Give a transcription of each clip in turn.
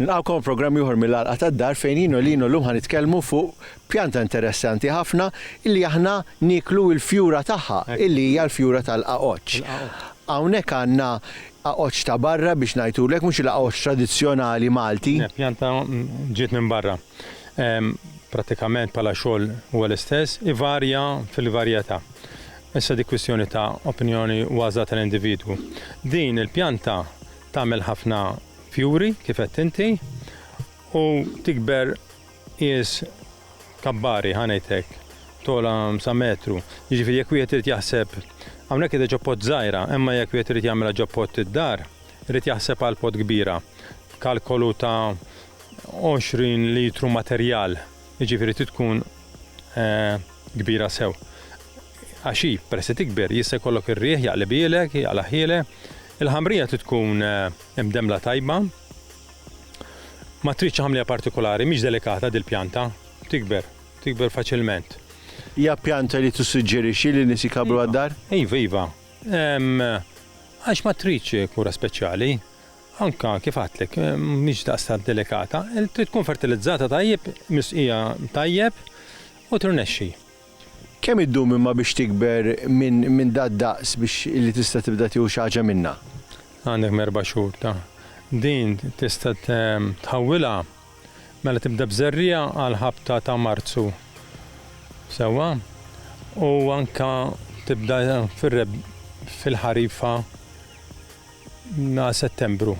Nilqawkom programm ieħor mill-għalqa tad-dar fejn jien u lino llum ħanitkellmu fuq pjanta interessanti ħafna illi aħna niklu l-fjura tagħha illi hija l-fjura tal-qaqoċ. Hawnhekk għandna Għaqodx ta' barra biex ngħidhulek, mhux il-għaqodx tradizzjonali Malti. Din il-pjanta ġiet minn barra. Prattikament bħala xogħol huwa l-istess, ivarja fil-varjetà. Issa dik kwistjoni ta' opinjoni u għażla tal-individwu. Din il-pjanta tagħmel ħafna fjuri, kif għedt inti, u tikber Qies, kabbari, ħa ngħid hekk, togħla sa metru. Jiġifieri jekk wieħed irid jaħseb, hawnhekk qiegħda ġo pot żgħira, imma jekk wieħed irid jagħmilha ġo pot id-dar, irid jaħseb għal pot kbira. Kalkolu ta' 20 litru materjal, jiġifieri trid tkun kbira sew. Għax hi, peress li tikber, jista' jkollok ir-riħ jaqlibielek, jaqlaħhielek. Il-ħamrija trid tkun imdemmla tajba. Ma tridx għamlija partikulari, mhix delikata dil-pjanta, tikber, tikber faċilment. Hija pjanta li tissuġġerixxi li nies jkabbru għad-dar? Iva, iva. Għax ma tridx kura speċjali. Anka kif għadtlek, mhix daqstant delikata, trid tkun fertilizzata tajjeb, misqija tajjeb u tirnexxi. Kemm iddum imma biex tikber minn minn dad-daqs biex illi tista' tibda tieħu xi ħaġa minnha? Għandek m'erba' xhur ta' din tista' tħawwilha mela tibda b'żerriegħa għall-ħabta ta' Marzu. Sewwa? U anke tibda fir-reb fil-ħarifa għal Settembru.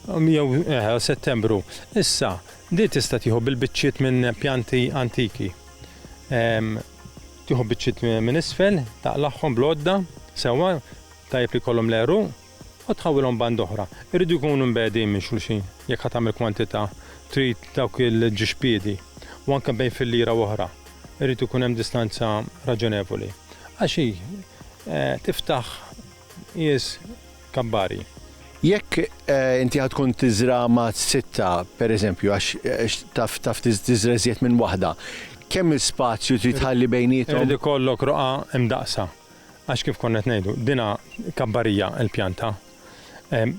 Jew eh, Settembru. Issa, din tista' tieħu bil-biċċiet minn pjanti antiki. tieħu biċċiet minn isfel, taqlagħhom bl-għodda sewwa tajjeb li kollhom l-għeruq u tħawilhom band oħra. Irridu jkunu mbegħdin minn xulxin jekk ħadd tagħmel kwantità trid dawk il-ġixpiedi u anke bejn fillira oħra. Irrid ikun hemm distanza raġonevoli. Għax hi eh, tiftaħ Qies kabbari. Jekk inti ħa tkun tiżra' ma' sitta, per eżempju, għax taf taf tiżra' iżjed minn waħda, kemm il spazju trid tħalli bejniethom? Irid ikollok roqgħa imdaqqsa. Għax kif konna qed ngħidu, dinha kabbarija l-pjanta.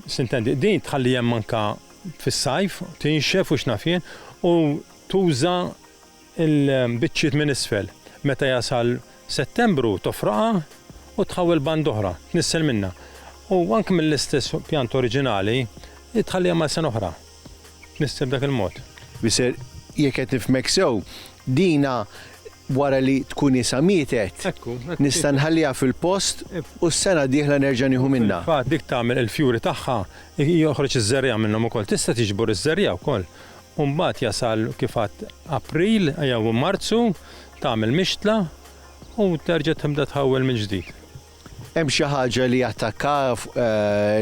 Sintendi, din tħalli hemm anke fis-sajf, tinxef u x'naf jien, u tuża' il-biċċiet minn isfel. Meta jasal Settembru tofroqha u tħawwel banda oħra, tnissel minnha. U anke mill-istess pjanta oriġinali tħalliha mal sena oħra. Tnissel b'dak il-mod. Mister, jekk qed nifhmek sew, dina wara li tkun isha mietet, nista' nħalliha fil-post u s-sena d-dieħla nerġa' nieħu minnha. Fil-fatt dik tagħmel il-fjuri tagħha, joħroġ iż-żerriegħa minnhom ukoll. Tista' tiġbor iż-żerriegħa wkoll U mbagħad jasal kif għadt April jew Marzu, tagħmel mixtla u terġa' tibda tħawwel mill-ġdid. Hemm xi ħaġa li attakkaha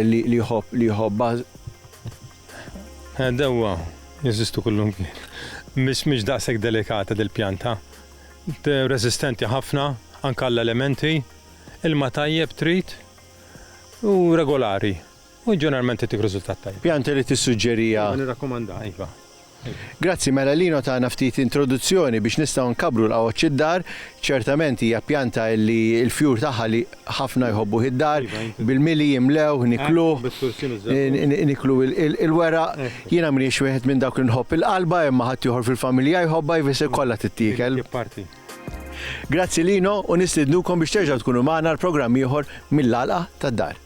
li jħobb li jħobbha? Dewwa jeżistu kullimkien. Mhix mhix daqshekk delikata dil-pjanta. Resistenti ħafna anke għall-elementi, ilma tajjeb trid u regolari. U ġeneralment tittik riżultat tajjeb. Pjanta li tissuġġeriha? Iva, nirrakkomandaha, iva. Grazzi, mela Lino tana ftit introduzzjoni biex nistgħu nkabbru l-qgħoġ id-dar. Ċertament hija pjanta li l-fjur tagħha li ħafna jħobbuh id-dar, bil-mili jimlewh, nikluh, niklu il-weraq. Jiena m'iniex wieħed minn dawk li nħobb il-qalba imma ħaddieħor fil-familja jħobbha jfisser kollha tittiekel. Grazzi Lino u nistidnukom biex terġgħu tkunu magħna għal programm ieħor mill-Għalqa tad-Dar.